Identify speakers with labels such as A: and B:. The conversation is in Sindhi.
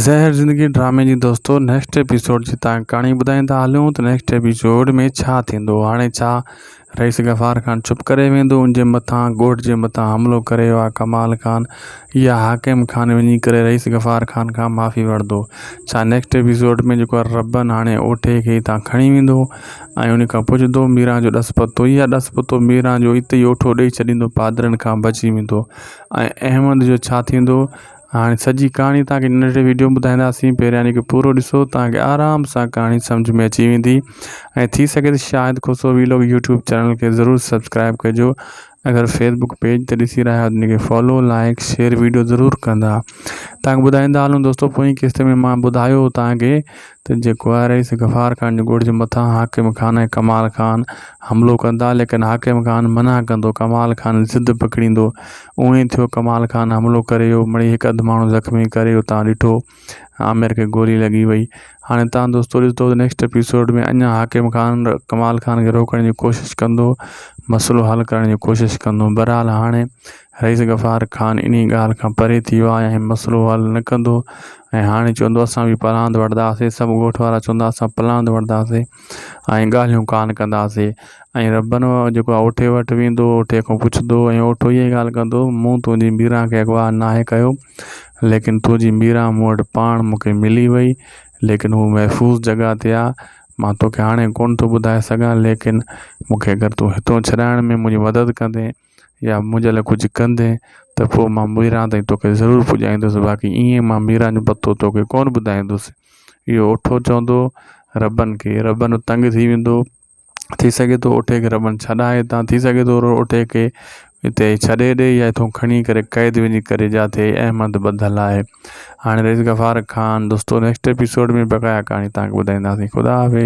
A: زهر زندگي ڊرامي جي دوستو نيڪسٽ ايپيسوڊ جي تان ڪهاڻي ٻڌائيندا هلون ته نيڪسٽ ايپيسوڊ ۾ ڇا ٿيندو هاڻي ڇا رئيس غفار خان چپ ڪري ويندو ان جي مٿان ڳوٺ جي مٿان حملو ڪري ويو آهي ڪمال خان يا حاڪم خان وڃي ڪري رئيس غفار خان کان معافي ورندو ڇا نيڪسٽ ايپيسوڊ ۾ جيڪو ربن هاڻي اوٺي کي تان کڻي ويندو ۽ ان کان پڇندو ميران جو ڏس پتو يا ڏس پتو ميران جو اتي ئي اوٺو ڏئي ڇڏيندو پادرن کان بچي ويندو ۽ احمد جو ڇا ٿيندو هاڻي سڄي ڪهاڻي توهان کي هن ننڍڙي وڊيو ۾ ٻڌائينداسين پهريان هن کي پورو ڏسو توهان کي آرام سان ڪهاڻي سمجھ ۾ اچي ويندي ۽ ٿي سگهي ته Shahid Khoso vlog YouTube channel کي ضرور سبسڪرائب ڪجو اگر فيس بڪ پيج تي ڏسي رهيا آهيو ته ان کي فالو لائڪ شيئر ويڊيو ضرور ڪندا توهان کي ٻڌائيندا هلون دوستو پوئين قسط ۾ مان ٻڌايو هو توهان کي ته جيڪو آهي رئيس غفار خان جي ڳوٺ جي مٿان حاڪم خان ۽ ڪمال خان حملو ڪندا ليڪن حاڪم خان منع ڪندو ڪمال خان ضد پڪڙيندو اهو ئي ٿيو ڪمال خان حملو ڪري ويو مڙئي هڪ اڌ ماڻهو زخمي ڪري ويو تان ڏٺو عامر کي گولي لڳي وئي هاڻي تان دوستو ڏسندو ته نيڪسٽ اپيسوڊ ۾ اڃا حاڪم خان ڪمال خان کي روڪڻ جي ڪوشش ڪندو مسئلو حل ڪرڻ جي ڪوشش ڪندو بهرحال هاڻي رئيس غفار خان انهي ڳالهه کان پري ٿي ويو آهي ۽ مسئلو حل نه ڪندو ۽ هاڻي چوندو اسان به پلاند وڙهنداسين سڀ ڳوٺ وارا چوندا اسان پلاند وڙهنداسين ۽ ڳالهيون ڪانه ڪنداسين ۽ ربن جيڪو آهي اوٺي وٽ ويندو اوٺي کان پڇندو ۽ اوٺو اهي ئي ڳالهه ڪندو مون تنهنجي ميران کي اغوا ناهي ڪيو ليڪن تنهنجي ميران مون وٽ پاڻ مون کي ملي وئي ليڪن هوء محفوظ جڳهه تي آهي مان توکي هاڻي ڪونه ٿو ٻڌائي سگهان ليڪن مون کي اگر تون هتان ڇڏائڻ ۾ منهنجي مدد ڪندين يا منهنجي لاء ڪجهه ڪندين ته پوء مان ميران تائين توکي ضرور پڄائيندس باقي ايئن مان ميران جو پتو توکي ڪونه ٻڌائيندس اهو اٺو چوندو ربن کي ربن تنگ ٿي ويندو ٿي سگهي ٿو اٺي کي ربن ڇڏائي هتان ٿي سگهي ٿو اٺي کي هتي ڇڏي ڏي يا هتو کڻي ڪري قيد وڃي ڪري جاٿي احمد ٻڌل آهي هاڻي رئيس غفار خان دوستو نيڪسٽ ايپيسوڊ ۾ بقايا ڪهاڻي تهانکي ٻڌائينداسين خدا حافظ